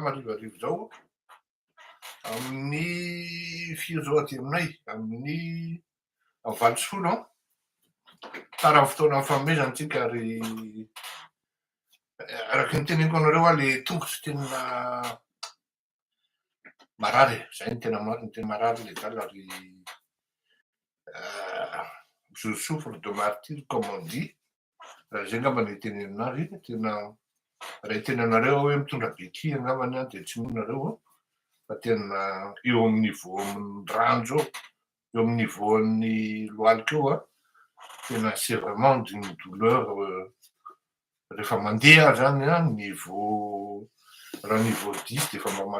marivariva izao amin'ny firy izao aty aminay amin'ny valo sy folo an tara ny fotoana fanomezana antsika ary araka ny teneniko anareo aho le tongotro tena marary izay ny tena marina ny tena marary le dala ary je souffre de martyr comme on dit Raha izay angamba no itenenana azy, tena raha itenenanareo hoe mitondra beky angambany aho dia tsy mino nareo an, fa tena eo amin'ny niveau amin'ny ranjo eo, eo amin'ny niveau an'ny lohalika eo an, tena c'est vraiment d'une douleur rehefa mandeha aho zany an, niveau raha niveau dix dia efa mba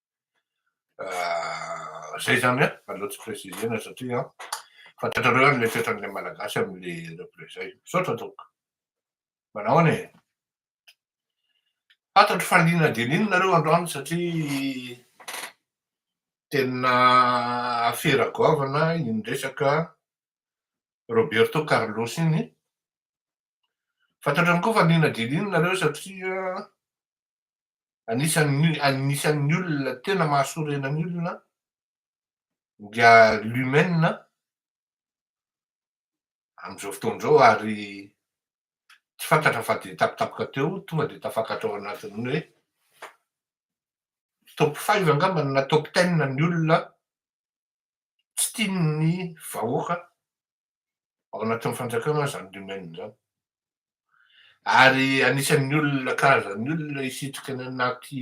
Zay zany an, aleo tsy préciser-na satria an, fantatrareo any le toetran'ilay Malagasy amin'le reple zay. Misaotra tompoko. Manao ahoana e? Fantatro fa liana dia liana nareo androany satria tena afera goavana iny resaka Roberto Carlos iny. Fantatro ihany koa fa liana dia liana nareo satria Anisan'ny anisan'ny olona tena mahasorena ny olona dia lumen amin'izao fotoana izao ary tsy fantatra fa dia tapitapaka teo tonga dia tafakatra ao anatin'ny hoe top five angambany na top ten ny olona tsy tian'ny vahoaka ao anatin'ny fanjakana izany domaine izany. Ary anisan'ny olona, karazan'ny olona hisitrika any anaty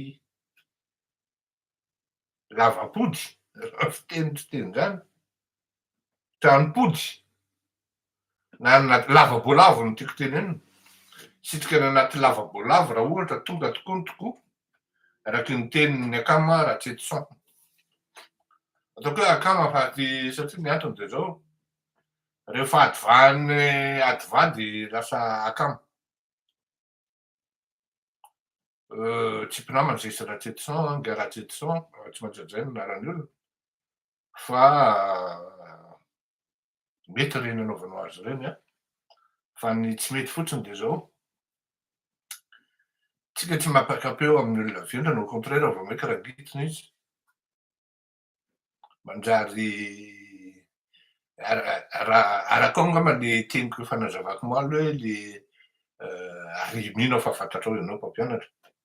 lavampody, raha ny fiteny fiteny izany, tranompody, na anaty lavaboalavo no tiako tenenina, hisitrika any anaty lavaboalavo raha ohatra tonga tokoa ny tokoa, araky ny tenin'ny akama Ratsietison. Ataoko hoe akama fa aty satria ny antony dia izao, rehefa adivahan'ny adivady lasa akama. Tsy mpinamana sisa Ratsietison, Nga Ratsietison, tsy maintsy hajaina ny anaran'ny olona. fa mety ireny anaovanao azy ireny an, fa ny tsy mety fotsiny dia izao, tsika tsy mampakapeo amin'ny olona vendrana, au contraire vao maika rangitina izy, manjary araka ao angamba le teniko efa nazavako omaly hoe le ary mino aho fa fantatrao ianao mpampianatra,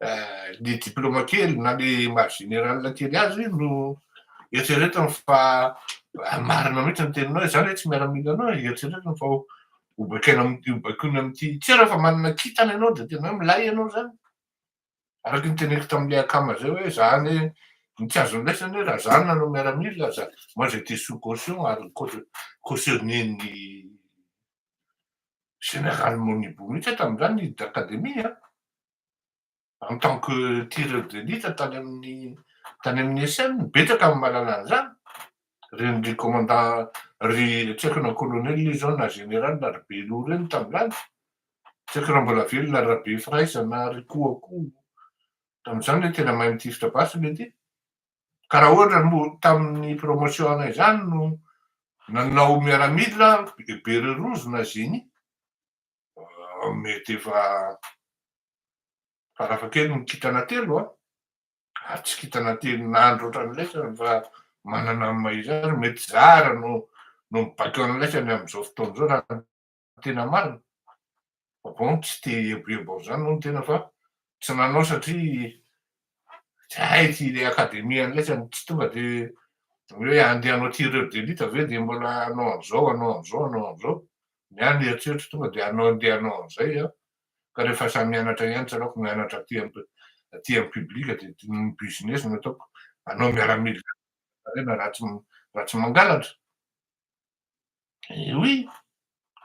le diplôme kely na le maha général kely azy no eritreretiny fa marina mihitsy ny teninao izany hoe tsy miaramila anao e, eritreretiny fa ho baikaina amin'ity ho baikoina amin'ity tsy hoe rehefa manana kintana ianao dia tena hoe milay ianao izany araka ny teneniko tamin'ilay akama izay hoe za anie ny tsy azon'ny laisany hoe raha za no nanao miaramila za moi j'étais sous caution ary cau- cautionner-n'ny général Monibo mihitsy aho tamin'izany ny hiditra akademia an en tant que tireur d'élite tany amin'ny tany amin'ny ESN, betsaka ny mahalala an'izany, ireny ry commandant ry tsy haiko na colonel izy zao na général na ry Beloha ireny tamin'izany, tsy haiko raha mbola velona ry Rabefiraiza na ry Koakoho tamin'izany hoe tena mahay mitifitra basy le ty, ka raha ohatra moa tamin'ny promotion anay zany no nanao miaramila, Bererose na Génie, mety efa farafahakeliny ny kintana telo an, ary tsy kintana tenin'andro ohatran'ny laisany fa manana ny mahizany, mety zara no no mibaiko an'ny laisany amin'izao fotoana izao raha ny tena marina, bon tsy te hieboebo an'izany moa ny tena fa tsy nanao satria Zay ty le akademia andraisany tsy tonga de hoe andeha anao tireur d'elite ve de mbola anao an'zao anao an'zao anao an'zao, ny ahy ny eritreritro tonga de anao andeha anao an'zay an, ka rehefa sahy mianatra ihany tsy anaoko mianatra aty am aty am public de ny business no ataoko, anao miaramila raha tsy raha tsy mangalatra. Oui,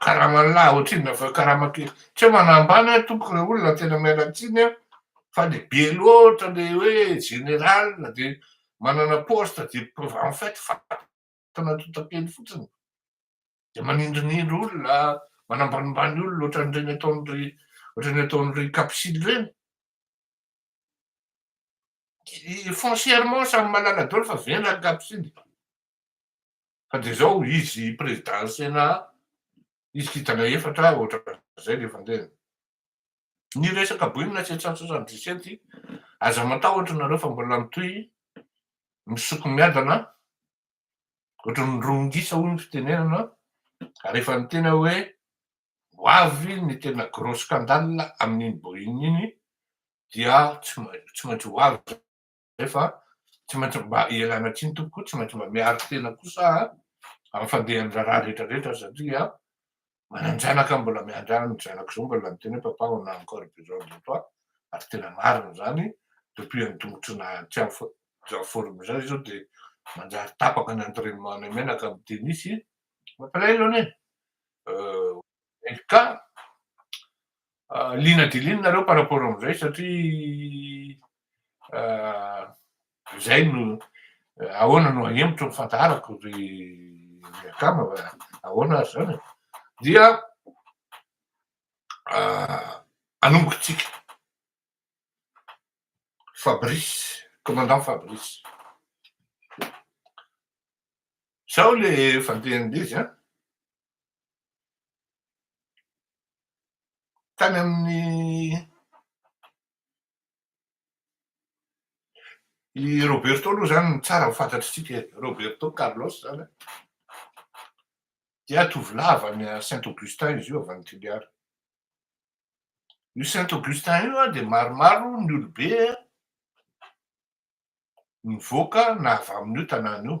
karama lahy ohatr'inona fa hoe karama kely. Tsy hoe manambany aho tompoko ilay olona tena miala tsiny aho fa le be loatra le hoe général dia manana poste dia en fait fatana totakely fotsiny. Dia manindrinindry olona, manambanimbany olona ohatran'ireny ataon'ry ohatran'ny ataon'ry Kapsily ireny. Foncièrement samy malala daholo fa vendrany Kapsily. fa dia zao izy président Sénat izy kintana efatra ohatran'izay le fandehany. Ny resaka boina sept cent soixante dix sept aza matahotra nareo fa mbola mitohy misoko miadana ohatran'ny romongisa hoy ny fitenenana ary efa niteny aho hoe ho avy ny tena gros scandale amin'iny boina iny dia tsy maintsy ho avy Nefa tsy maintsy mba ialana tsiny tompoko koa tsy maintsy mba miaro tena kosa amin'ny fandehan'ny raharaha rehetra rehetra satria manan-janaka aho mbola miandry ahy ny zanako izao mbola miteny hoe papa on a encore besoin de toi ary tena marina izany depuis an'ny tongotry na tsy en forme izany izy io dia manjary tapaka ny entraînement anay menaka amin'ny tennis mampalahelo anie euh, ka Liana dia liana nareo par rapport amin'izay satria izay no ahoana no hahemotra ny fandaharako ry akama va ahoana ary izany e? dia anomboka antsika Fabrice commandant Fabrice sao le fandehan'izy an tany amin'ny i Roberto aloha izany no tsara ho fantatr'isika e, Roberto Carlos izany an, dia tovolahy avy any Saint Augustin izy io avy any Toliara, io Saint Augustin io an dia maromaro ny olobe nivoaka na avy amin'io tanàna io,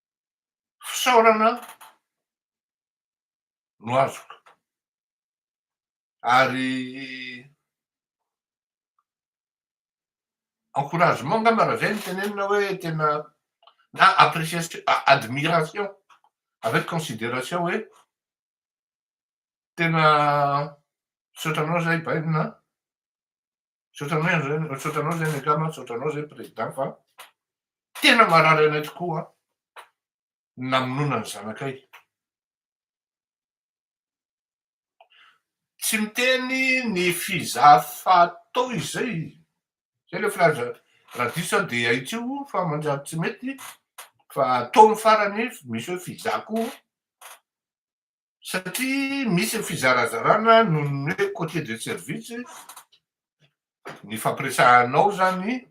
fisaorana no azoko ary encouragement angamba raha zay no tenenina hoe tena na appreciation admiration avec consideration hoe tena misaotra anao zahay bainina an. Misaotra anao ihany zany, misaotra anao zany angamba, misaotra anao zany président fa tena mahalala anay tokoa ny namonoana ny zanakay. Tsy miteny ny fizafatao izay, zay le filaza raha diso aho dia ahitsio fa manjary tsy mety fa atao ny farany, misy hoe fizaka o. satria misy ny fizarazarana noho ny hoe côtier de service ny fampiresahanao izany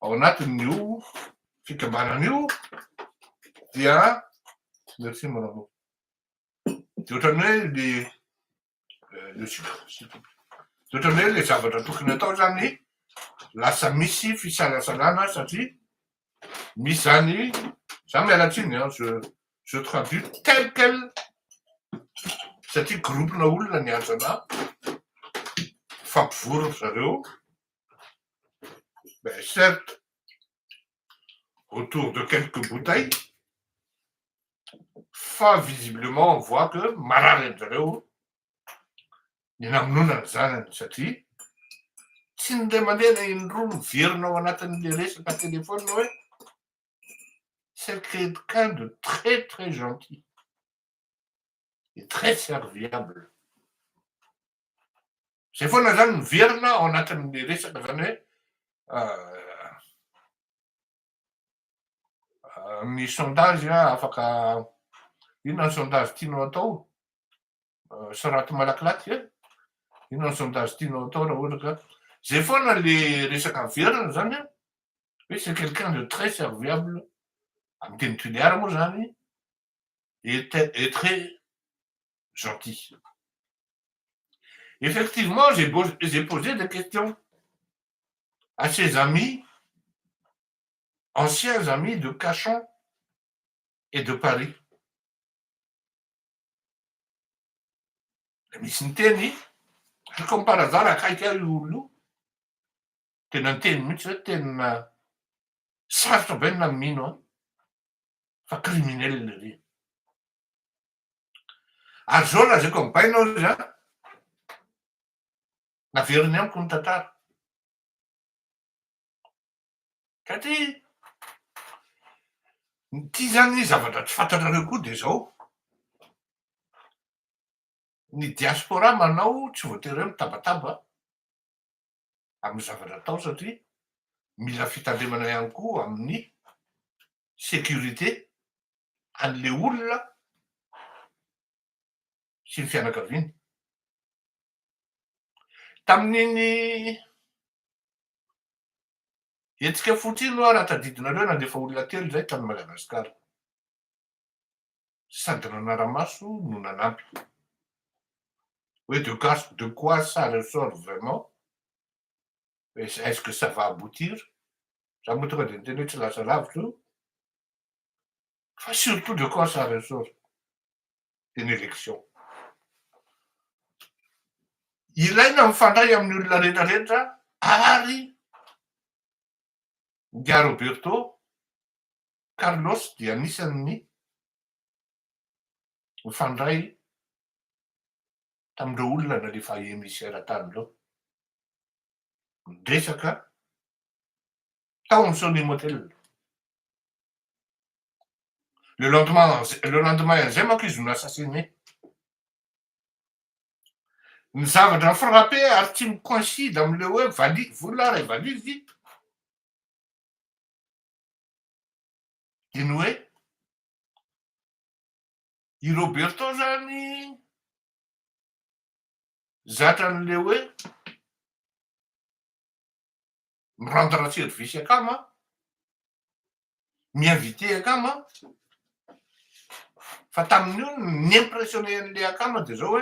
ao anatin'io fikambanana io dia merci mon amour dia ohatran'ny hoe le le dia ohatran'ny hoe le zavatra tokony atao izany lasa misy fisalasalana satria Misy zany, za miala tsiny an, je je traduis tel quel satria groupe na olona niantso ana, mifampivory ry zareo, mais certes autour de quelques bouteilles fa visiblement on voit que marary an-dry zareo ny namonoana ny zanany satria tsy ny ray aman-dreny indroa miverina ao anatin'ilay resaka telefaonina hoe c'est quelqu'un de très très gentil et très serviable zay foana zany miverina ao anatin'ilay resaka zany hoe euh, misy sondage afaka inona ny sondage tianao atao soraty malakilaky e inona ny sondage tianao atao raha ohatra ka zay foana le resaka averina zany a hoe c'est quelqu'un de très serviable amin'ny teny tuléar moa zany et très gentil effectivement j'ai posé des questions à ses amis, anciens amis de Cachan et de Paris. Misy niteny, ary comme par hasard akaiky ahy io olona io, tena niteny mihitsy hoe tena sarotra be ny namino an, fa criminel ery. Ary izao lazaiko amin'ny bainao izy an, Averiny amiko ny tantara. Satria ity zany zavatra tsy fantatrareo koa dia izao, ny diaspora manao tsy voatery hoe mitabataba amin'ny zavatra atao satria mila fitandremana ihany koa amin'ny sécurité an'ilay olona sy ny fianakaviany. Tamin'iny hetsika foot iny oa raha tadidinareo nandefa olona telo izay tany Madagascar. Sady nanara-maso no nanampy. Hoe de quoi de quoi ça ressort vraiment? Est-ce que ça va aboutir? Za moa tonga dia niteny hoe tsy lasa lavitra io. fa surtout le corps ça ressort de l'élection. Ilaina mifandray amin'ny olona rehetra rehetra ary Ingahy Roberto Carlos dia anisan'ny mifandray tamin'ireo olona nalefa emissaire tany ireo. Miresaka tao amin'ny Soleil Motel. Le lendemain, le lendemain an'izay manko izy no assassiné. Ny zavatra ni-frapper ary tsy mi-coïncide amin'ilay hoe vali, vola ary valizy dia ny hoe i Roberto izany zatra an'ilay hoe Miranda Ratsirivy sy akama an! Mi-inviter akama an! Fa tamin'io ny ni-impressionner an'ilay akama dia izao hoe,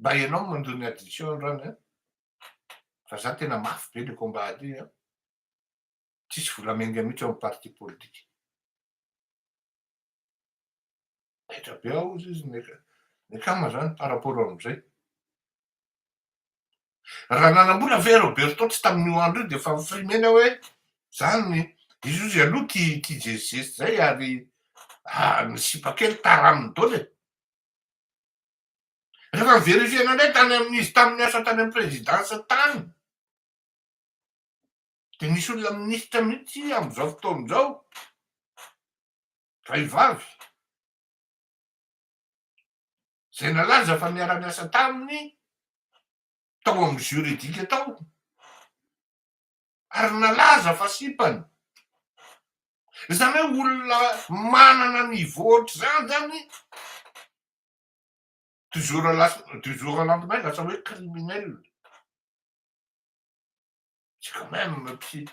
mba ianao mandoa ny addition androany an! Fa za tena mafy be ilay combat ady an! Tsisy vola miainga mihitsy ao amin'ny parti politique. Taitra be aho hozy izy, ny akama zany par rapport amin'izay. Raha nanambola ve Roberto tsy tamin'io andro io dia efa mifrimena hoe zany izy hozy aloha tia tia zezizesy zay ary ah, ny sipa kely taraminy dole. Rehefa miverifiena indray tany amin'izy tamin'ny asa tany amin'ny présidence tany dia nisy olona minisitra mihitsy amin'izao fotoana izao Raivavy, izay nalaza fa niara-niasa taminy tao amin'ny juridique tao ary nalaza fa sipany. Izany hoe olona manana niveau ohatr'izany izany du jour à la du jour au lendemain lasa hoe criminel. C'est quand même psy,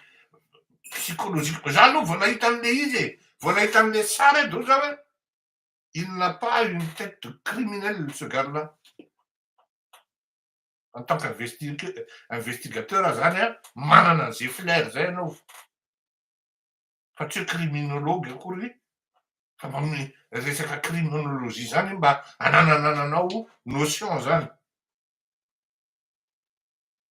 psychologique. Za aloha vao nahita an'le izy e, vao nahita an'le sary e do za hoe il n'a pas une tête de criminel ce gars-là. En tant qu'investigateur aza zany a, manana an'zay flair zay ianao. Fa tsy hoe criminologue akory, fa mba mi- resaka criminologie zany mba anananananao notion zany.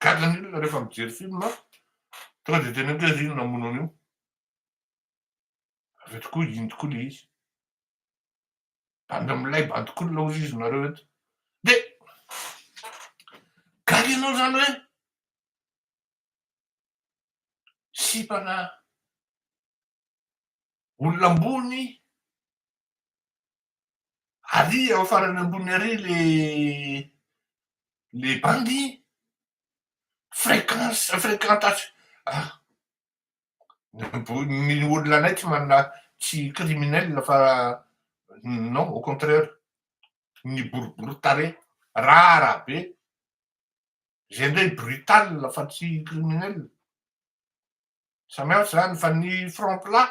Gadra ny olona rehefa mijery film a! Tonga dia teny amiko hoe ry ino namono an'io? Avy eo tokoa iny tokoa le izy. Bandy milay, bandy cool hozy izy nareo eto. De gaga ianao zany hoe sipana olona ambony Ary ao farany ambony ary le le bandy fréquence fréquentation ah ny olona anay tsy manana tsy criminel fa non au contraire ny boribory tarehy rara be zay indray brutal fa tsy criminel samy hafa zany fa ny front plat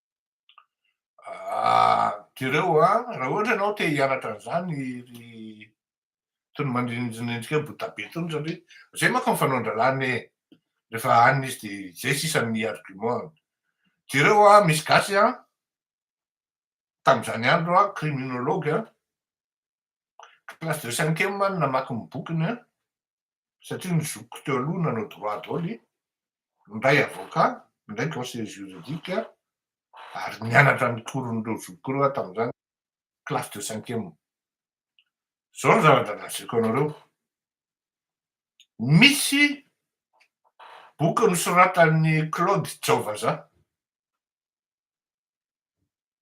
Ah, jereo a, ah, raha ohatra ianao te hianatra an'izany ry tony mandrinjinendrika hoe botabe tony satria zay manko ny fanaon-dralana e rehefa anina izy de zay sisa ny argument jereo a ah, misy gasy a ah, tamin'izany andro a ah, criminologue a Classe de cinquième aho no namaky ny bokiny an, satria ny zokiko teo aloha nanao droit daholo, ny iray avocat, ny iray conseiller juridique, ary nianatra ny cours n'ireo zokiko ireo aho tamin'izany, classe de cinquième. Izao no zava-draha lazaiko anareo, misy boky nosoratan'i Claude Jaovazaha,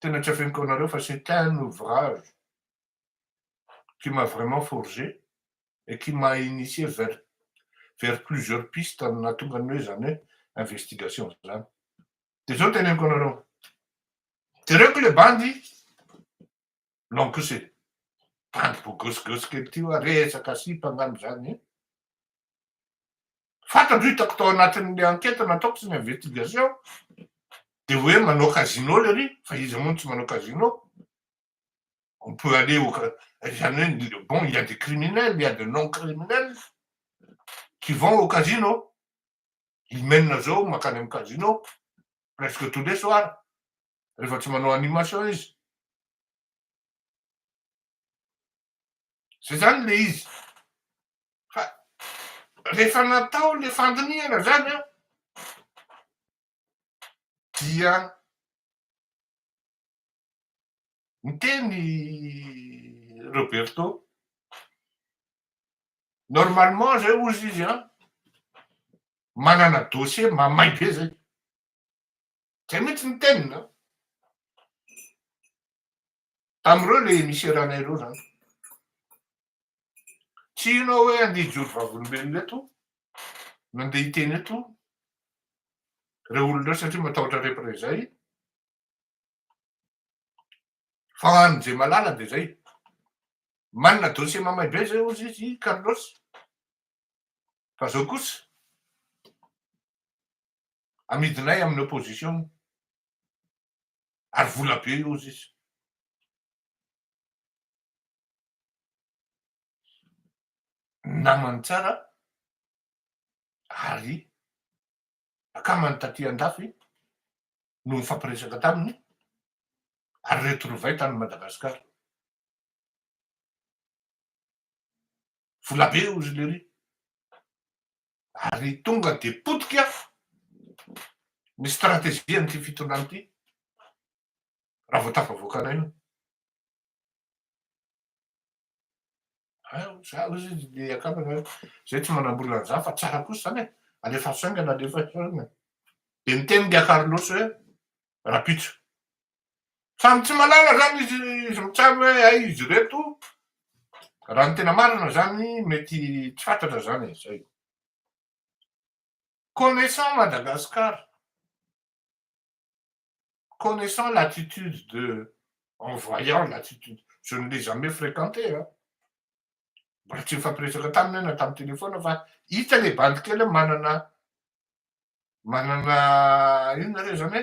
tena tsy afeniko anareo fa c'est un ouvrage qui m'a vraiment forgé et qui m'a initié vers vers plusieurs pistes nahatonga ny hoe zany hoe investigation zany. Dia zao teneniko anareo, jereo ko le bandy long kose, bandy bogosy gosy kely ty hoa, resaka sipa angamba zany e. Fantatro hitako tao anatin'ny enquête nataoko sy ny investigation dia hoe manao casino le ry fa iza moa no tsy manao casino? On peut aller au izany hoe bon il y a des criminels, il y a des non criminels qui vont au casino. I Menina zao mankany amin'ny casino presque tous les soirs rehefa tsy manao animation izy. Zay zany le izy. Fa rehefa natao le fandinihana zany an, dia niteny i Roberto, normalement zay ozy izy an, manana dossier mamay be zay. Zay mihitsy ny teniny an. Tamin'ireo ilay emisera-nay ireo izany. Tsy hino aho hoe handeha hijoro vavolombelona eto, nandeha hiteny eto ireo olona ireo satria matahotra représailles. Fa an'i Jemalala dia izay. Manana dossier mamay be izay hozy izy i Carlos. Fa izao kosa, amidinay amin'ny opposition. ary vola be io sisa. Namany tsara ary akamany taty andafy no nifampiresaka taminy ary retrouver tany Madagascar. Vola be io ry lery. ary tonga dia potika ny strategian'ity fitondrana ity raha vao tafavoakanay io. Za hoy izy dia akambana hoe zay tsy manambola an'izany fa tsara kosa izany e, alefaso aingana, alefaso aingana. Dia niteny dia Carlos hoe, Rapitso, Samy tsy malala zany izy izy mitsabo hoe hay izy reto raha ny tena marina zany mety tsy fantatra zany e zay. Connaissant Madagascar, connaissant l'attitude de en voyant l'attitude je ne l'ai jamais fréquenté a mbola tsy nifampiresaka taminy aho na tamin'ny téléphone fa hita le bandy kely hoe manana manana inona re zany e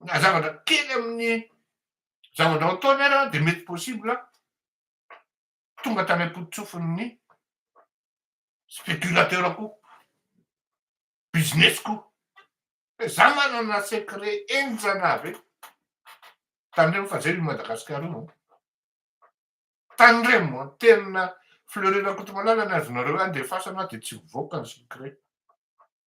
na zavatra kely amin'ny zava-drahao ataony ara dia mety possible tonga tany am-pototsofin'ny spéculateur ko business ko fa za manana secret enjana avy eto tandremo fa zay ny Madagascar io tandremo tena Fleury Rakotomalala ny azonareo any dia fasana dia tsy mivoaka ny secret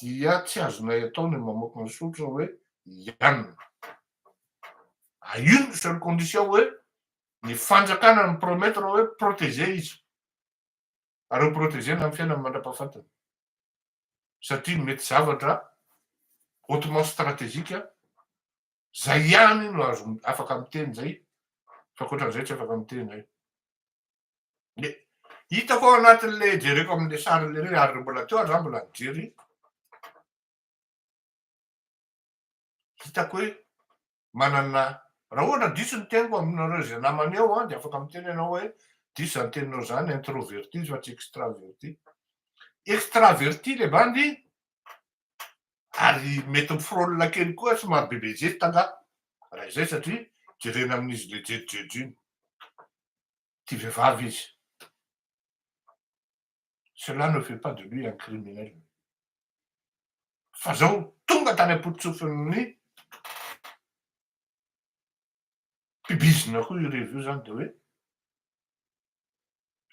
dia tsy azonay atao ny mamoaka ny soritra hoe Yann. A une seule condition hoe ny fanjakana mi promettre hoe proteger izy. Ary ho proteger-na amin'ny fiainany mandra-pahafatiny. Satria mety zavatra hautement stratégique izay ihany no azo afaka miteny izay fa ankoatran'izay tsy afaka miteny. Le hitako ao anatin'le jereko amin'le sarin'le reny ary mbola teo ary za mbola nijery, hitako hoe manana raha ohatra diso ny teniko aminareo izay namana eo an dia afaka miteny ianao hoe diso izany teninao izany introverti izy fa tsy extraverti. Extraverti le bandy ary mety mi-frôle kely koa somary bebe zesta angah raha izay satria jerena amin'izy le jejojejo iny. tia vehivavy izy. Cela ne fait pas de lui un criminel. Fa zao tonga tany ampototsofin'ny mpibizina koa io revy io zany de hoe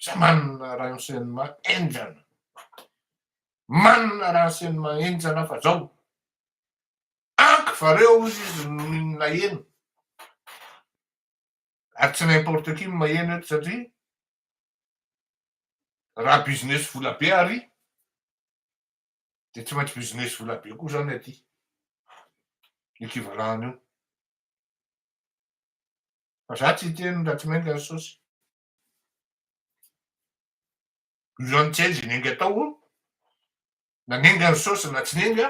za manana renseignement enjana manana renseignement enjana fa zao ankivareo ozy izy no naheno Ary tsy n'importe qui no maheno eto satria raha business vola be ary dia tsy maintsy business vola be koa izany aty. Equivalent an'io. Fa za tsy hiteny raha tsy mainka ry sosy. Io zany tsy hay ze nenga tao, na nenga ny sosy na tsy nenga,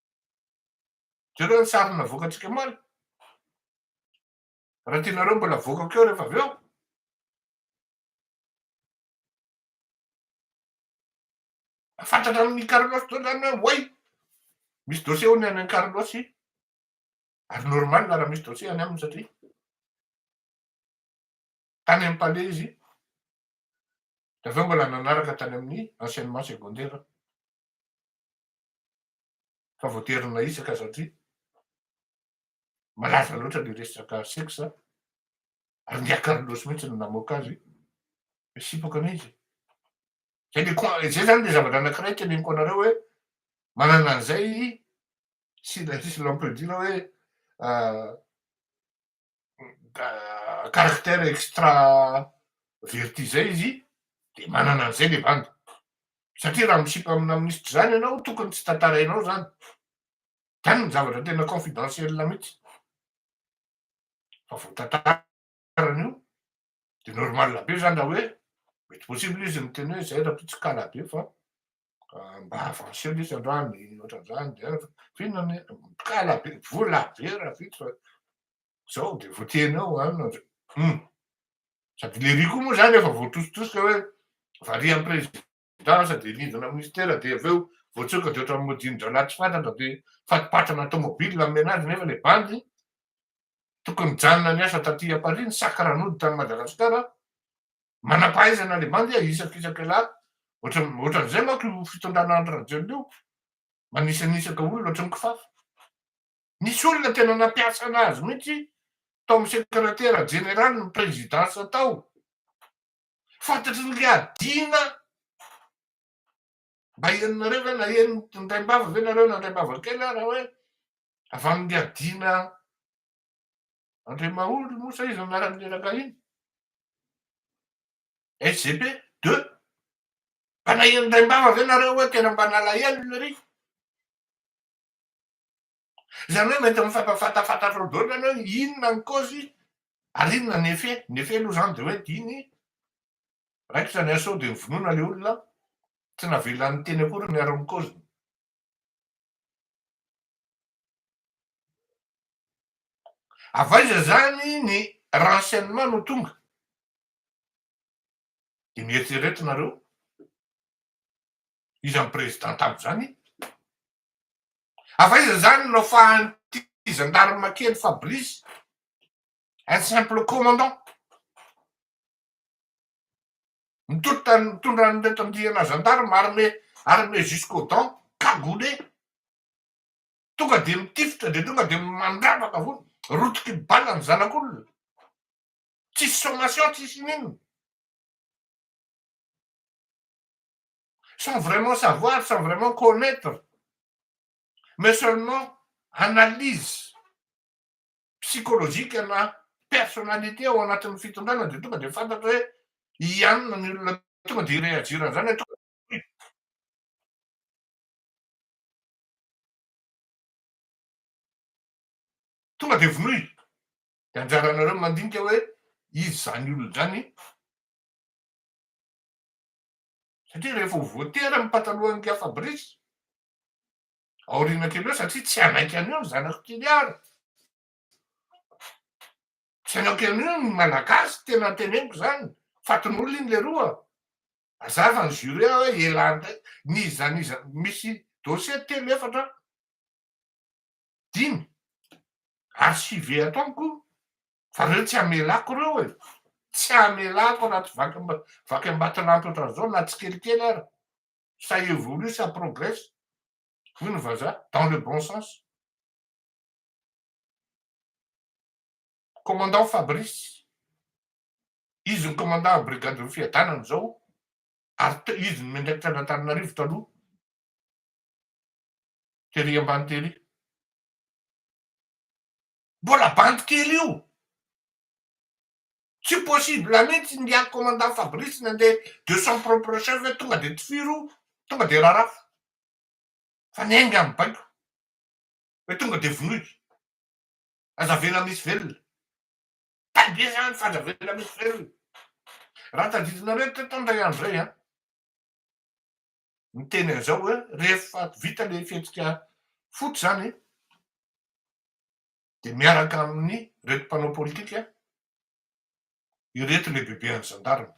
Jereo ny sary navoakantsika omaly. Raha tianareo mbola avoakako eo rehefa avy eo. Fantatra amin'ny Carlos toa izany hoe way. Misy dossier hono any an'i Carlos. Ary normal raha misy dossier any aminy satria tany amin'ny palais izy. Dia avy eo mbola nanaraka tany amin'ny enseignement secondaire. Fa voatery nahitsaka satria malaza loatra ny resaka sexe ary ndry Carlos mihitsy no namoaka azy hoe sipoka anie izy e. Izay izay zany le zavatra anankiray teneniko anareo hoe manana an'izay i si si l'on peut dire hoe caractère extraverti zay izy de manana an'izay le bandy satria raha misipa amina minisitra izany ianao tokony tsy tantarainao izany zany ny zavatra tena confidentiel mihitsy fa vao tantarany io de normal be zany raha hoe mety possible izy miteny hoe zay raha toa tsy kala be fa mba avancer lesy androany ohatran'izany de ah, finona ny kala be vola be raha vita fa zao de voateny ao anina ah, hum sady le riz koa moa zany efa voatositosika hoe variant président Za aza dia rindrina minisitera dia avy eo voatsoaka dia ohatran'ny modian-drahalahy tsy fantatra dia fatipatrana tomobily no hameno azy nefa ilay bandy tokony nijanona niasa taty à Paris nisaka ranody tany Madagasikara manam-pahaizana ilay bandy a isakisaka lahy ohatran'ny ohatran'izay manko io fitondrana Andry Rajoelina io manisanisaka olona ohatran'ny kifafa nisy olona tena nampiasa anazy mihitsy tao amin'ny sekretera jeneraly ny présidence tao Fantatry ny Liadiana mba henonareo ve na henon'ny Taim-bava ve nareo na Antaim-bava kely ara hoe avy amin'ny Liadiana Andriamahory moa sa iza anarany miaraka iny? SGP deux mba nahenon'ny Taim-bava ve nareo hoe tena mba nalahelo lery? Izany hoe mety mifantafatafatra atrao daholo izany hoe inona ny cause ary inona ny effet. Ny effet aloha izany dia hoe iny raikitra ny assaut dia novonoina ilay olona, tsy navela niteny akory ny ary ny cause. Avy aiza izany ny renseignement no tonga? Dia mieritrereta nareo, iza ny président tany izany? Avaiza izany no nafahan'ity zandarma kely Fabrice, un simple commandant, mitodika mitondra an'ireto andiana zandarma armé armé jusqu'aux dents, cagoulé, tonga dia mitifitra dia tonga dia mandravaka foana, rotiky bala ny zanak'olona, tsisy sommation tsisy inona. sans vraiment savoir, sans vraiment connaitre, mais seulement analyse psychologique ana personnalité ao anatin'ny fitondrana dia tonga dia fantatra hoe hianina ny olona tonga dia hireagir an'izany hoe tonga tonga dia vonoy dia anjaranareo mandinika hoe izy izany olona izany Satria rehefa ho voatery amin'ny patalohan'i Gia Fabrice, aoriana kely eo satria tsy hanaiky an'io ny zanak'i Toliara. Tsy hanaiky an'io ny Malagasy, tena teneniko izany, fatin'olona iny leroa. Azava ny jury ao hoe elan'ny tena, n'iza n'iza, misy dossier telo efatra, dimy archivé ato amiko Fa reo tsy amelako reo e, tsy amelako anaty vaky vaky ambaton'anto ohatran'izao na tsikelikely ara, ça évolue, ça progresse hoy ny vazaha, dans le bon sens. Commandant Fabrice, izy no commandant brigade ny fiadanana izao ary te izy no miandraikitra an'Antananarivo taloha, tery ambany tery. Mbola bandy kely io. Tsy possible mihitsy ny ahy commandant Fabrice nandeha de son propre chef hoe tonga de tifiro, tonga de rarafo. Fa ny ahy nga mibaiko. Hoe tonga de vonoiko. Aza avela misy velona. Tay be zany fa aza avela misy velona. Raha tadidinareo teto an dray andro zay an. ny teny an'izao hoe rehefa vita ilay fihetsika foot izany dia miaraka amin'ny reto mpanao politika ireto lehibebean'ny zandarina.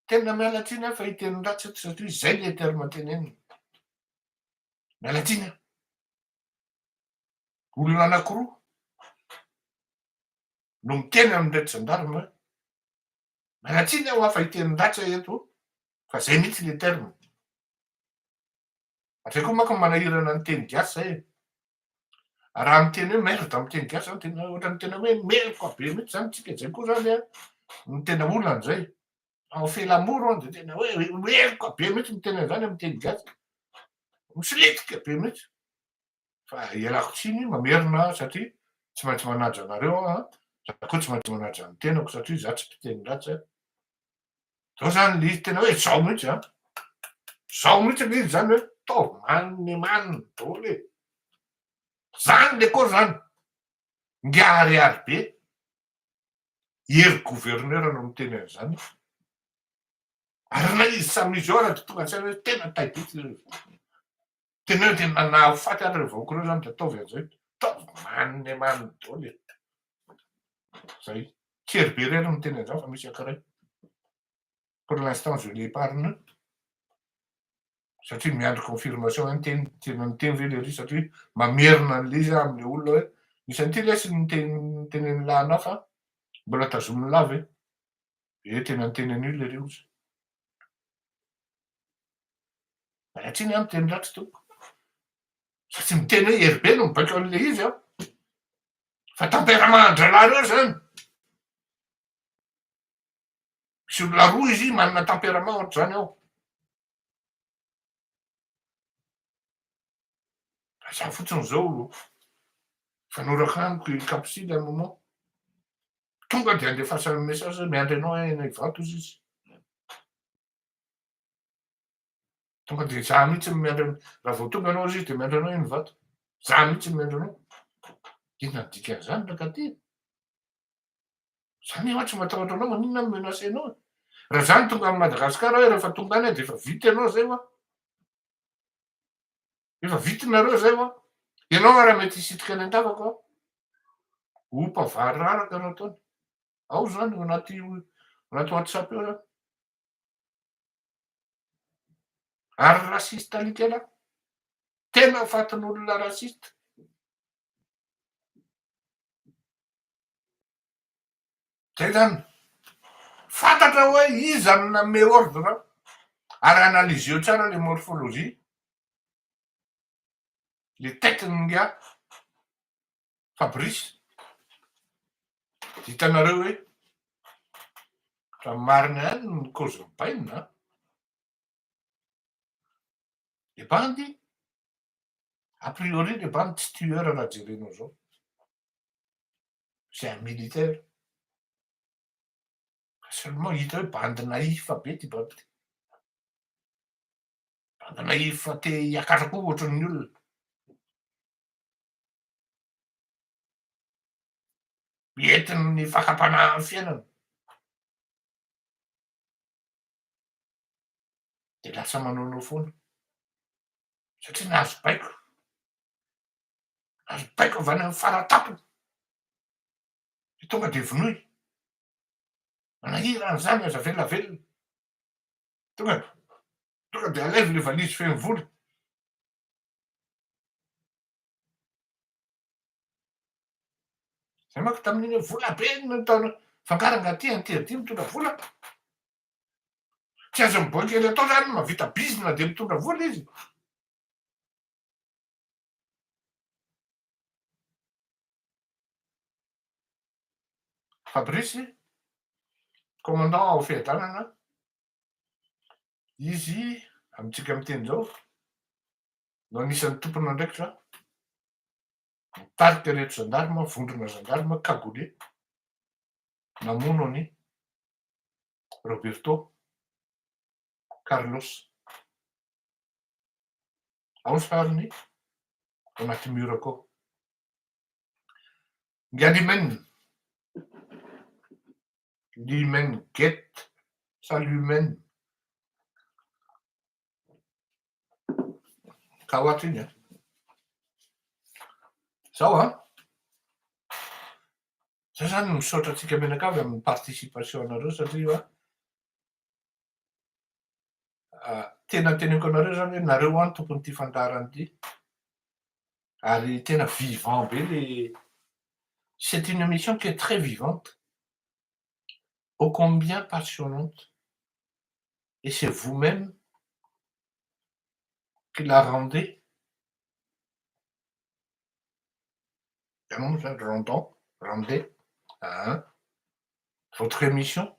Tena miala tsiny aho fa hiteny ratsy eto satria izay ilay terme tenenina. Miala tsiny aho. Olona anankiroa no miteny amin'ireto zandarima Mialatsiny aho fa hiteny ratsy aho eto fa zay mihitsy le terme. Zay koa manko manahirana ny teny gasy zay e. Raha miteny hoe merde amin'ny teny gasy zany tena ohatran'ny tena hoe meloka be mihitsy zany tsika zay koa zany a ny tena olana zay. En fait l'amour hono de tena hoe meloka be mihitsy miteny an'zany amin'ny teny gasy. Misilitika be mihitsy. fa ialako tsiny mamerina aho satria tsy maintsy manaja anareo aho an, za koa tsy maintsy manaja ny tenako satria za tsy mpiteny ratsy an, zao zany le izy tena hoe zao mihitsy an, zao mihitsy le izy zany hoe taovy maniny maniny daholo e, zany le koa zany, ngiaharihary be, ery gouverneur no miteny an'izany fa ary ilay izy samy izy eo ary tonga antsaina hoe tena tay be ity zao izy. Teneno dia nanà ho faty any ireo vahoaka ireo izany dia ataovy an'izao hoe ataovy manome maniny daholo e. Izay. Kely be irery no miteny an'izany fa misy ankiray. Pour l'instant je l'épargne satria miandry confirmation ihany teny tena miteny ve le ry satria mamerina an'le izy amin'le olona hoe misy an'ity lesy ny teny tenen'ny lahana fa mbola tazomin'ny lava e. Ee tena niteny an'io le ry ozy. Raha tsy ny miteny ratsy tompoko. Fa tsy miteny hoe hery be no mibaiko an'i Lehive aho. Fa tamperamahan-drahalahinareo izany. Misy olona roa izy manana tamperama ohatr'izany ao. Fa za fotsiny izao fanorako amiko i Kapsily à un moment. Tonga dia andefasan'ny message hoe miandry anao any Ivato hozy izy. Tonga dia za mihitsy no miandry anao. Raha vao tonga anao izy dia miandry anao iny vato. Za mihitsy no miandry anao. Inona ny dikan'izany rakate? Za nefa tsy matahotra anao maninona no menace anao? Raha zany tonga amin'i Madagasikara aho rehefa tonga any dia efa vita ianao zay wa. Efa vitinareo zay wa? Ianao ara mety hisitrika any an-tavako aho. Ompa variraraka no ataony. Ao izany ao anaty anaty WhatsApp eo izany. Ary raciste alika lahy. Tena fatin'olona raciste. Zay zany. Fantatra hoe iza no nanome ordre ao. Ary analyseo tsara le morphologie, le tête n'inga Fabrice. Hitanareo hoe raha marina ihany ny cause bainina an. Le bandy, a priori le bandy tsy tueur raha jerenao zao. c'est un militaire seulement hita hoe bandy naïf be ty baby ty bandy naïf te hiakatra koa ohatran'ny olona entin'ny fakam-panahin'ny fiainana dia lasa manaonao foana satria nahazo baiko ary baiko avy any amin'ny fara tampony, dia tonga dia vonoy. Manahirana izany aza velavelona. Tonga tonga dia alaivo ilay valizy feno vola. Zay manko tamin'iny vola be no taona fangaranga aty anty aty mitondra vola. Tsy azo miboaika ery atao izany mahavita bizina dia mitondra vola izy. Fabrice, commandant ao Fiadanana, izy amintsika miteny izao no anisan'ny tompon'andraikitra mitarika ireto zandarma, vondrona zandarma cagoulé namono an'i Roberto Carlos. Ao ny sariny anaty mur ko. Ngalimen. Limen get. Salumen. Ka hoatry iny an. Zao an. Zay zany misaotra antsika menakavy amin'ny participation anareo satria Tena teneniko anareo zany hoe nareo an tompon'ity fandaharana ity ary tena vivant be le c'est une émission qui est très vivante ô combien passionnante et c'est vous même qui la rendez ianao moa zany rendant rendez votre émission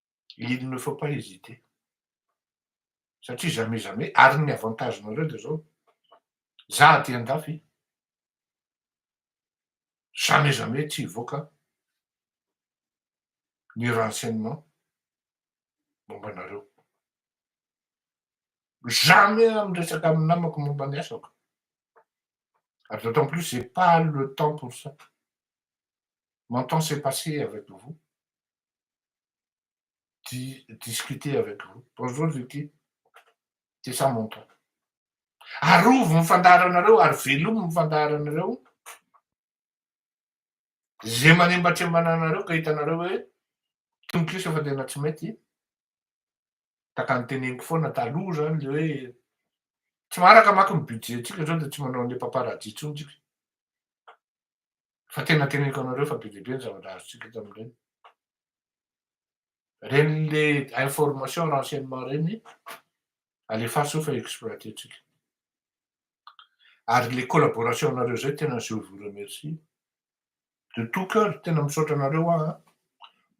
il ne faut pas hésiter satria jamais jamais ary ny avantage nareo de zao za aty andafy jamais jamais tsy hivoaka ny renseignement momba anareo jamais aho miresaka amin'ny namako momba ny asako ary d'autant plus j'ai pas le temps pour ça mon temps c'est passé avec vous di- discuter avec vous. Bonjour Vicky. C'est ça mon ton. Arovy ny fandaharanareo ary velomy ny fandaharanareo. Ze manembatrembana anareo ka hitanareo hoe tononkisa fa tena tsy mety. Taka ny teneniko foana taloha zany le hoe tsy maharaka maka ny budget-ntsika zao dia tsy manao an'le paparazzi intsony tsika. Fa tena teneniko anareo fa be dia be ny zavatra azontsika eto amin'ireny. Ireny le information renseignement ireny alefaso fa exploiter-tsika. Ary le collaboration-nareo zay tena je vous remercie de tout cœur, tena misaotra anareo aho an,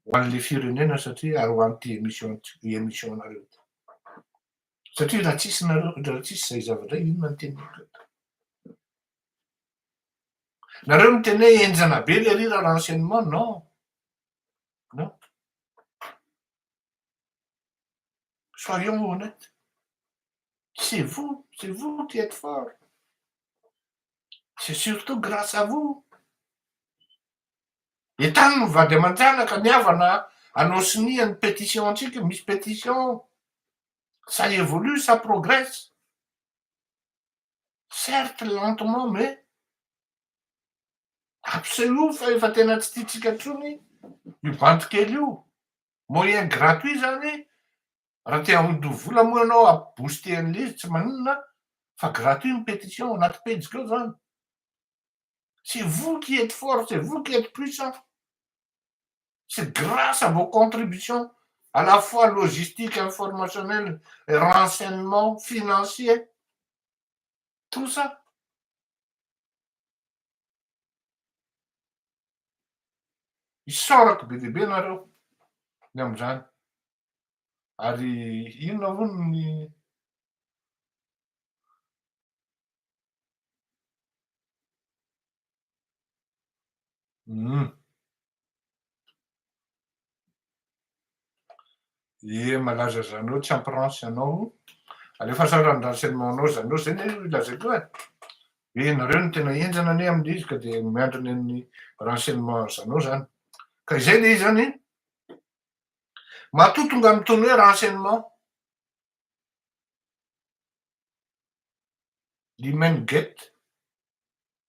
ho an'le firenena satria ary ho an'ity émission ty émission-nareo ty. Satria raha tsisy nareo, raha tsisy zay zavatra zay inona ny teneniko eto. Nareo miteny hoe enjana be le rira renseignement non non soyons honnete c'est vous c'est vous qui êtes fort c'est surtout grace à vous etany no vady aman-janaka ny havana anao sonia ny petition antsika misy petition ça évolue ça progresse certes lentement mais absolue fa efa tena tsy tiantsika intsony io bandy kely io, moyen gratuit zany raha te hamodoha vola moa ianao ha booster an'le izy tsy maninona fa gratuit ny petition ao anaty pejiko ao zany, c'est vous qui etes fort, c'est vous qui etes puissant. c'est grâce à vos contributions à la fois logistique, informationnel, renseignement, financier, tout ça. Isaorako be dia be nareo ny amin'izany. Ary inona hono ny Hum. Ye malaza zanao tsy ampirance anao alefa sara ny renseignement anao zanao zay ne lazaiko e hoe nareo no tena enjana anie amin'ny izy ka dia miandry ny an'ny renseignement zanao zany ka izay le izy zany matoa tonga amin'ny tony hoe renseignement limen get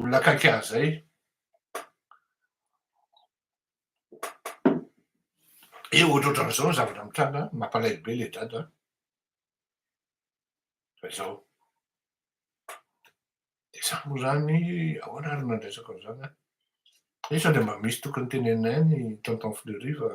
Olona akaiky ahy izay. Eo ohatrohatran'izao ny zavatra mitranga, mampalahelo be ilay dada. Fa izao. Dia izaho moa izany, ahoana ary no nandraisako an'izany aho? Hoe sao dia mba misy tokony teneninay ny tonton Fleury fa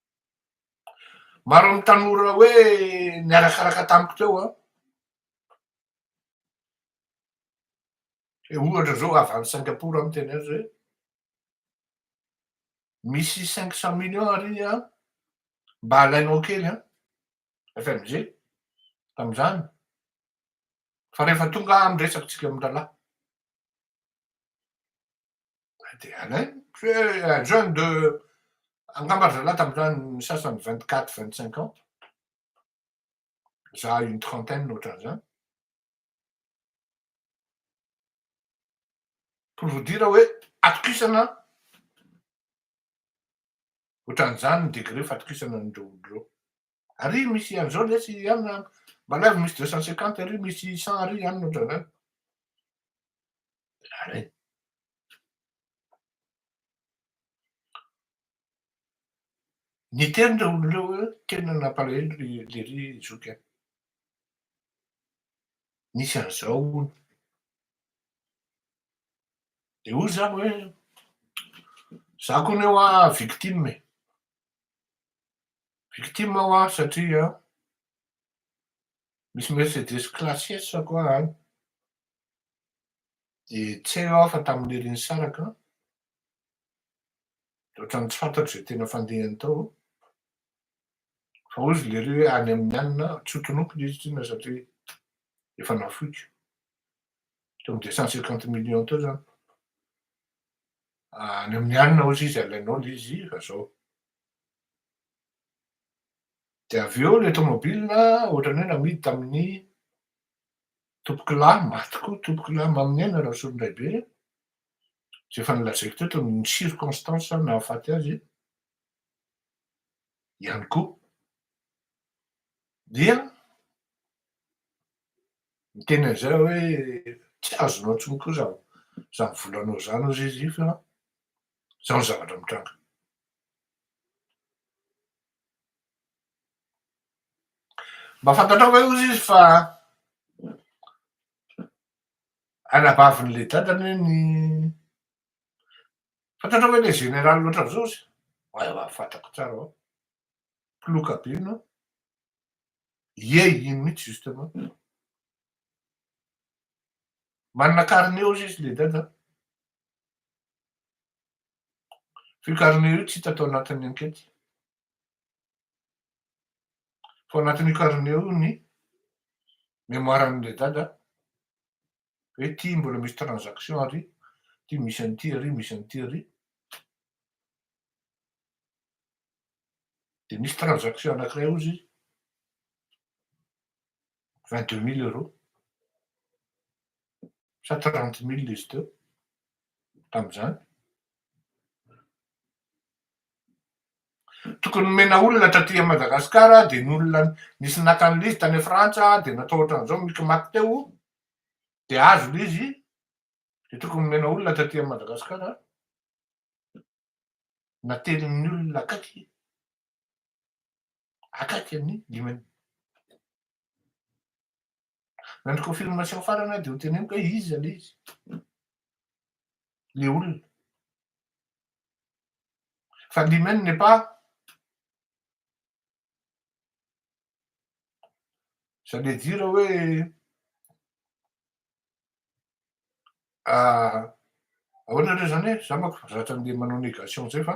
Maro amin'ny tanora hoe niarakaraka tamiko teo an. Hoe ohatra zao avy any Singapour aho miteny azy hoe misy cinq cent millions ary an mba alainao kely an FMG tamin'izany fa rehefa tonga amin'ny resakitsika amin-drahalahy. Dia alainy. Eh, jeune de angamba ry zalahy tamin'izany ny sasany vingt quatre vingt cinq ans za une trentaine ohatran'izany pour vous dire hoe atokisana ohatran'izany ny degré fatokisana an'ireo olo ireo Ary misy an'izao lesy ihany na manavy misy deux cent cinquante ary misy cent ary ihany ohatran'izany. Ary. Ny teny ireo olona ireo tena nampalahelo ry lery zoky an. Misy an'izao hono. Dia hoy za hoe za koa ny hoa victime e. Victime aho ary satria misy Mercedes classes ko aho any de tsy hay aho fa tamin'ny lery nisaraka de ohatran'ny tsy fantatro izay tena fandehany tao fa hoy izy lery hoe any amin'ny anona aho, tsy ho tononkina izy tsinona satria efa nafoiko teo amin'ny deux cent cinquante millions teo zany, any amin'ny anona hoy izy izy alainao le izy fa zao Dia avy eo ilay tomobilina ohatran'ny hoe namidy tamin'ny tompokolahy, maty koa tompokolahy Maminena Rasolondraibe, izay efa nolazaiko teto ny circonstances nahafaty azy ihany koa. Dia niteny an'izay aho hoe tsy azonao intsony koa izany volanao izany hoy izy fa Izao ny zavatra mitranga. Mba fantatrao ve hozy izy fa anabavin'ilay dadany ny fantatrao ve ilay général loatra amin'izao izy? Ewa fantako tsara ao. Ploka be no. Ie iny mihitsy justement. Manana carnet ozy izy le dada. Vue Carnet io tsy hita tao anatin'ny ankety. Fa ao anatin'io carnet io ny mémoire-n'ilay dada hoe ity mbola misy transaction ary, ity misy an'ity ary, misy an'ity ary. Dia misy transaction anankiray hozy izy. vingt deux mille euros sa trente mille izy teo tamin'izany. Tokony nomena olona taty à Madagasikara dia ny olona nisy naka an'ilay izy tany Frantsa dia natao ohatran'izao mikimaky teo dia azo ilay izy dia tokony nomena olona taty à Madagasikara natelin'ny olona akaiky Akaiky amin'ny dimy eo. Raha ny confirmation farany aho dia hoteneniko hoe iza le izy. Le olona. Fa dimy n'est pas ça veut dire hoe ahoana indray zany hoe za manko zatra andeha manao négation zay fa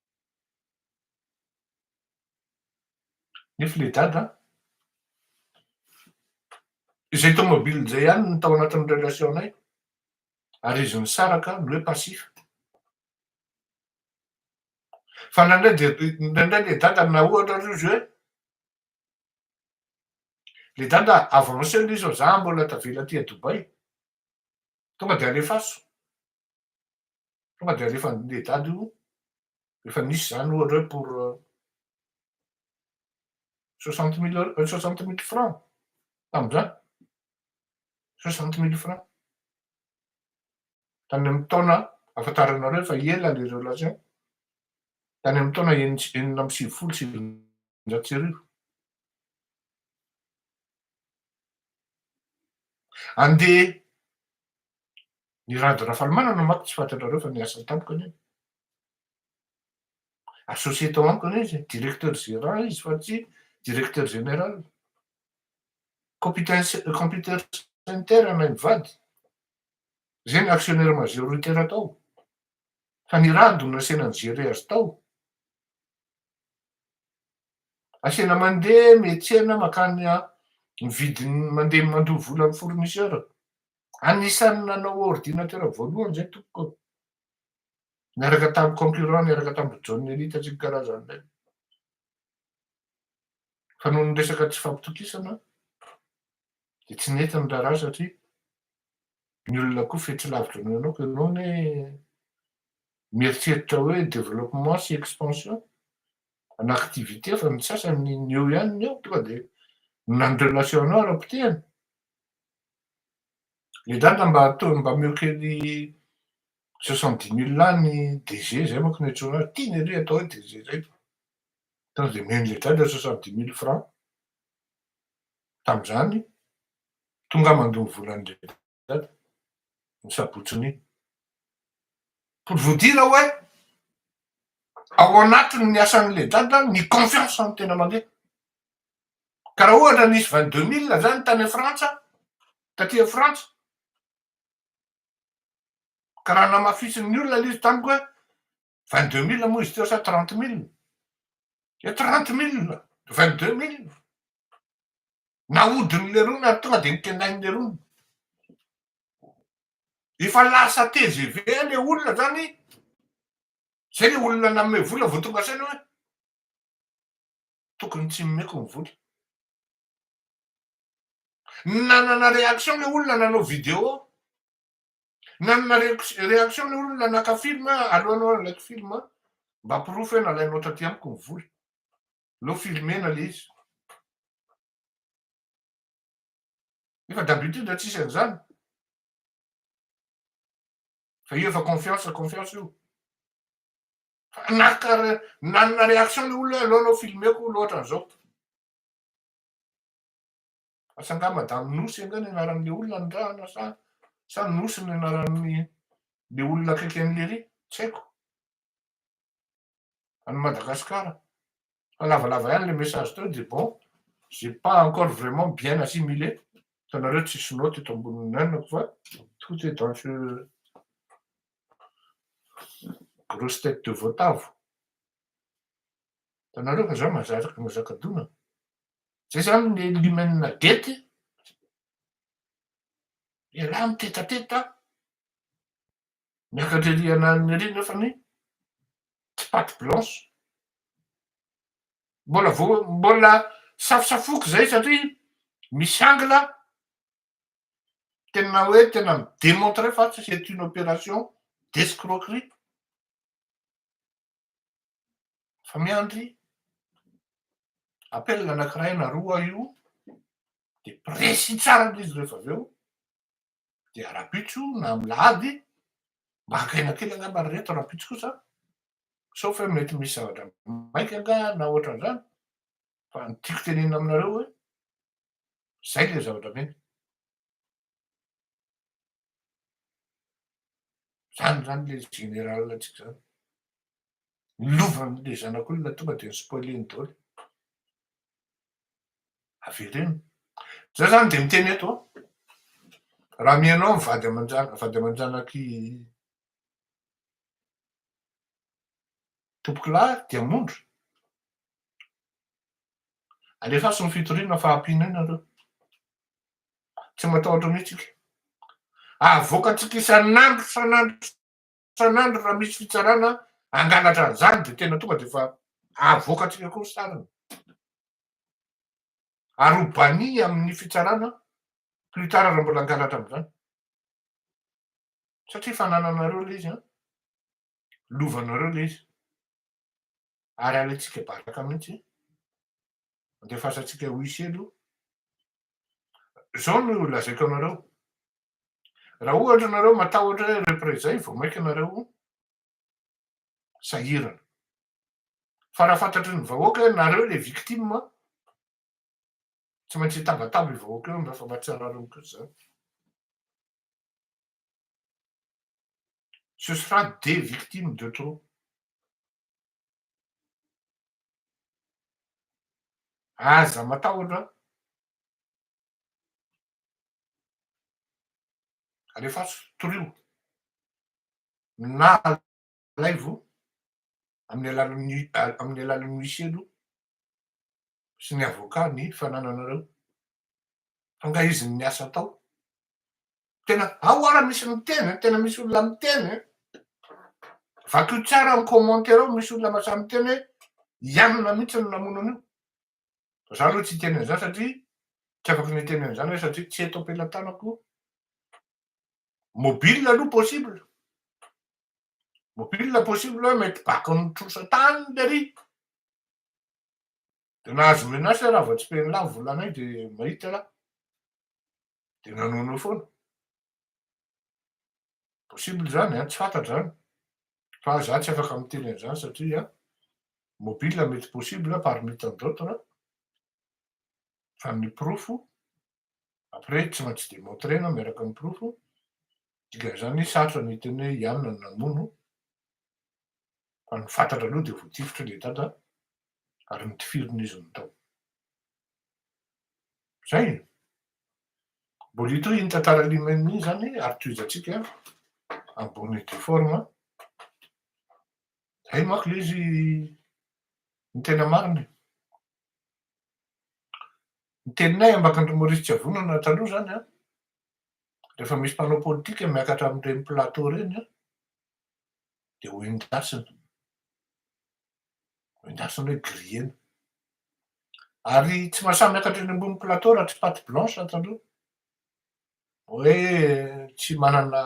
Nefa ilay dada an! Izay tomobile izay ihany no tao anatin'ny relation-nay ary izy nisaraka no hoe passif. Fa indraindray dia, indraindray ilay dada na ohatra ary izy hoe, ilay dada avancé ilay izy fa za mbola tavela aty à Dubaï, tonga dia alefaso. Tonga dia alefan'ny lehidahy io, rehefa nisy izany ohatra hoe pour soixante mille euros, soixante mille francs tamin'izany, soixante mille francs. Tany amin'ny taona, ahafantaranareo fa ela ilay relation, tany amin'ny taona enina sy- enina amby sivifolo sy sivinjato sy arivo. Andeha Ny Rado Rafalimanana manko tsy fantatrareo fa niasa tamiko anie. Associé tao amiko anie izy, directeur gérant izy fa tsy directeur général. Competence computer center anay mivady. Zay ny actionnaire majoritaire tao. Fa ny Rado no nasiana ni-gérer azy tao. Asiana mandeha miantsena makany mividy ny mandeha mandoa vola amin'ny fournisseur. Anisan'ny nanao ordinatera voalohany izay tompoko aho. Niaraka tamin'ny concurrent, niaraka tamin'i John Nelly tatsy ny karazany indray. Fa noho ny resaka tsy fampitokisana dia tsy nety ny raharaha satria ny olona koa fetsy lavitra noho ianao, koa ianao ne mieritreritra hoe développement sy expansion ana activité fa ny sasany ny eo ihany ny eo tonga dia nany relation-nao ara-potehana Le dada mba ataovy mba ameo kely soixante dix mille lahy ny DG zay manko no hiantsoana azy, tiany aloha atao hoe DG zay fa sao de omeny le dada soixante dix mille francs tamzany tonga mandoa ny volany le dada ny sabotsiny iny. Pour vous dire hoe ao anatiny ny asanle dada ny confiance ny tena mandeha. Ka raha ohatra nisy vingt deux mille izany tany Frantsa, taty amin'i Frantsa, ka raha namafisin'ny olona ilay izy tamiko hoe vingt deux mille moa izy teo sa trente mille? Dia trente mille, vingt deux mille. Nahodin'ny lerony ary tonga dia nitendain'ny lerony. Efa lasa tgv ilay olona izany, izay ilay olona nanome vola vao tonga saina hoe tokony tsy nomeko ny vola. Nanana réaction le olona nanao vidéo, nanana réaction le olona naka film, aleo anao alaiky film mba porofo hoe nalainao taty amiko ny vola. Aleo filmena le izy. Nefa d'habitude tsy tsisy an'izany. Fa io efa confiance confiance io. Fa naka nanana réaction le olona aloha nao filmeko loatra an'izao. Asa nga madame Nosy nga ny anaran'le olona nirahana sa sa Nosy ny anaran'ny le olona akaiky an'i Lery? Tsy haiko. Any Madagasikara. fa lavalava ihany le message teo de bon j'ai pas encore vraiment bien assimilé hitanareo tsy sinoa teto ambonin'ny nenako fa tout est dans ce grosse tête de voatavo hitanareo fa za mazaraka mazaka dona zay zany le limenina gety ialahy mitetateta Miakatra ery ananiny ery nefa ny tsy pate blanche. Mbola vo mbola safosafoiko zay satria misy angle tena hoe tena mi demontrer fa c'est une opération d'escroquerie. Fa miandry appel anakiray na roa io de presy tsara le izy rehefa avy eo dia rapitso na milady maka aina kely angamba ry reto rapitso kosa sauf hoe mety misy zavatra maika nga na ohatran'izany fa ny tiako tenenina aminareo hoe zay le zavatra mena zany zany le général atsika zany ny lovan'le zanak'olona tonga de ny spoiler-ny daholo Avereno. Zay zany de miteny eto a. Raha mihaino ahy vady aman-janaka, vady aman-janak'i Tompokolahy Diamondra, alefaso ny fitoriana fa ampino eo nareo. Tsy matahotra mihitsy ika. Avoakantsika isan'andro isan'andro Sanandro raha misy fitsarana hangalatra an'izany dia tena tonga dia efa havoakantsika koa ny sariny. Ary ho banni amin'ny fitsarana plus tard raha mbola hangalatra amin'izany. Satria efa anananareo ilay izy an. Lovanareo ilay izy. Ary alaintsika baraka mihitsy. Andefasantsika huissier aloha. Izao no lazaiko anareo. Raha ohatra nareo matahotra hoe repre izay vao maika nareo sahirana. Fa raha fantatry ny vahoaka hoe nareo le victime tsy maintsy hitabataba io vahoaka io mba fa mba tsy arariny kosa zany. Ce sera des victimes de trop. Aza matahotra Alefaso, torio. Na alaivo amin'ny alalan'ny amin'ny alalan'ny huissier aloha sy ny avocat ny fanananareo. Fa nga izy ny asa atao. Tena ao ara misy miteny, tena misy olona miteny. Vakio tsara ny commentaire ao, misy olona mahasahy miteny hoe i Anona mihitsy no namono an'io. Fa za aloha tsy hiteny an'izany satria tsy afaka ny hiteny an'izany aho satria tsy eto am-pelatanako. Mobile aloha possible. Mobile possible hoe mety baka amin'ny trosa tany le ry. Dia nahazo menace aho raha vao tsipehiny lany volanay dia mahita raha. Dia nanono foana. Possible izany an, tsy fantatra izany fa za tsy afaka miteny an'izany satria mobile mety possible parmi tant d'autres fa ny porofo après tsy maintsy demontrena miaraka amin'ny porofo dikan'izany sarotra ny hiteny hoe i anona no namono fa ny fantatra aloha dia voatifitry ilay dada ary notifirin'izy ny tao Zay e. Mbola hita iny tantara Limem iny zany ary tohizantsika en bonne et due forme. Zay manko le izy ny tena marina e. Ny teninay Ambakandro Maurice Tsiavonana taloha zany an, rehefa misy mpanao politika miakatra amin'ireny plateau ireny an, dia ho endasina. Endasina hoe griller-na. Ary tsy mba samy miakatra eny ambony plateau raha tsy pate blanche ato aloha. Hoe tsy manana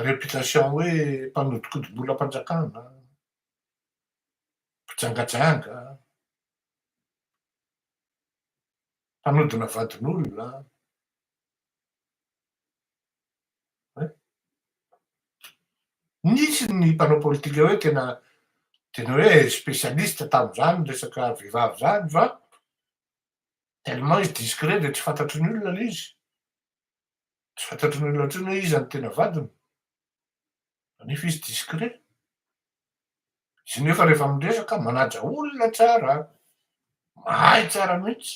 réputation hoe mpanodikodim-bolam-panjakana, mpijangajanga, mpanodina vadin'olona. Nisy ny mpanao politika hoe tena tena hoe spécialiste tamin'izany resaka vehivavy izany fa tellement izy discret dia tsy fantatry ny olona ilay izy. Tsy fantatry ny olona intsony hoe iza no tena vadiny kanefa izy discret. Izy nefa rehefa miresaka manaja olona tsara, mahay tsara mihitsy.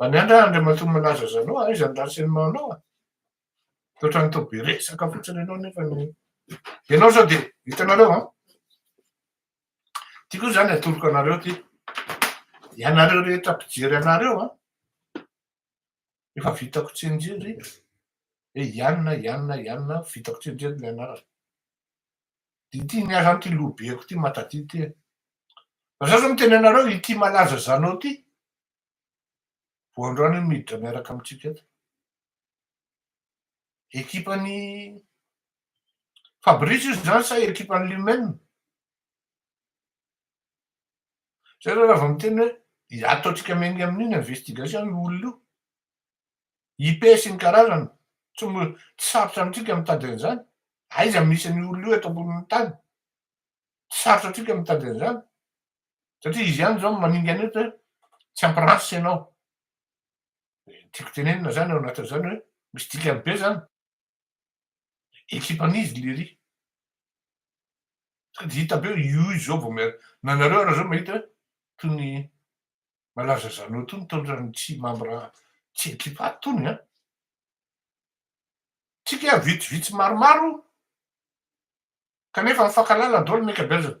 Miandrandra Andriamatoa Malaza Zalo a! Iza ny ratsy enao anao a! Misaotra an'i Toby resaka fotsiny ianao nefa ny ianao zao dia hitanareo an! Ity koa izany atoroko anareo ity ianareo rehetra mpijery anareo an! Efa vitako tsinjery hoe ianona ianona ianona vitako tsinjery ny anarana. Dia ity ny azany ity loha beko ity matadidy ity e! Fa za zao miteny anareo ity Malaza Zalo ity Vao androany io no niditra miaraka amintsika eto. Ekipan'i Fabrice io izany sa ekipan'i Lumen? Zay raha vao miteny hoe ataontsika miainga amin'iny investigation io olona io. IP sy ny karazany, tsy sarotra amintsika mitady an'izany. Aiza misy an'io olona io eto ambonin'ny tany? Tsy sarotra antsika mitady an'izany. satria izy ihany zao no maningana eto hoe tsy ampy race ianao. Tiako tenenina zany ao anatin'izany hoe misy dikany be zany. Ekipan'izy lery. Sady hita be hoe io izy zao vao miara. Nanareo ary zao mahita hoe toy ny malaza zanao tony tony tsy membre tsy ekipa tony an. Tsika vitsivitsy maromaro kanefa mifankalala daholo ny ankabeazany.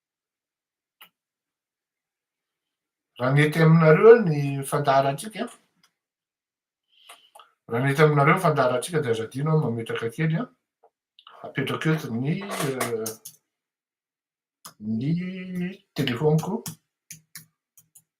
Raha mety aminareo ny fandaharantsika, raha mety aminareo ny fandaharantsika dia aza adino aho mametraka kely an, apetrako eto ny ny telefaoniko.